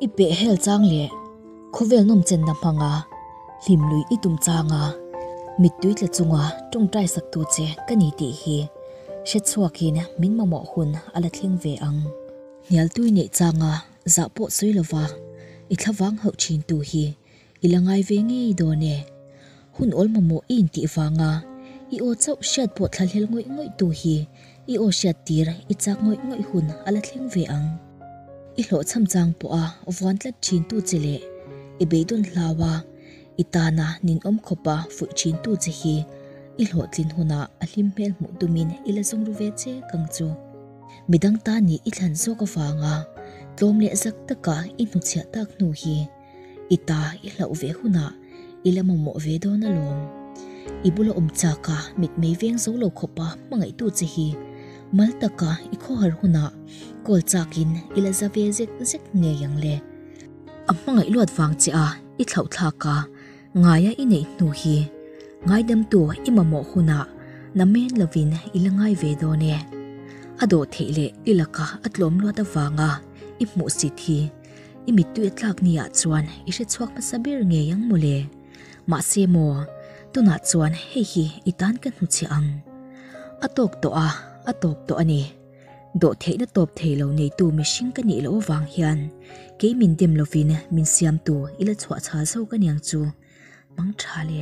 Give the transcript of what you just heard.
I peh hel chang le khawvel nawm chenna hmanga hlim lui i tum changa mittui tla chunga tawngtai sak tu che ka ni tih hi hre chhuakin min mamawh hun a la thleng ve ang. Hnialtui neih changa zah pawh sawi lova i thlavang hauh thin tu hi I la ngai ve ngei dawn e. Hun awl mamawh i intih vanga i aw chauh hriat pawh thlahlel ngawih ngawih tu hi i aw hriat tir i chak ngawih ngawih hun a la thleng ve ang. I hlawh cham chang pawh a vuan tlat thin tu che leh i bei dawn hlau a i tana ninawm khawp a fuih thin tu che hi i hlawh tlin hunah a hlim hmel hmuh tumin i la zawng ru ve che kang chu. Midang ta nih i thlan zawk avanga tlawm leh zak taka i hnuchhiah tak hnu hi. I ta i hlauh ve hunah i la mamawh ve dawn alawm. I bula awm chaka mitmei veng zo lo khawpa hmangaihtu che hi mal taka i khawhar hunah call chakin i la za ve zek zek ngei ang le. A hmangaih luat vang che a i thlauhthlak a, ngaia i neih hnu hi ngaidamtu i mamawh hunah na men lovin i la ngai ve dawn e. A dawh theih leh i laka a tlawm luat avanga i hmuh sit hi. I mittui a tlak ni ah chuan i hre chhuak hmasa ber ngei ang maw le? Mahse maw, tunah chuan hei hi i tan ka hnu chhe ang. A tawp tawh a, a tawp tawh a ni. Dawh theihna tawp thei lo neitu mihring ka nih loh avang hian kei min dem lovin min siamtu i la chhuah chhal zo ka niang chu hmang tha le.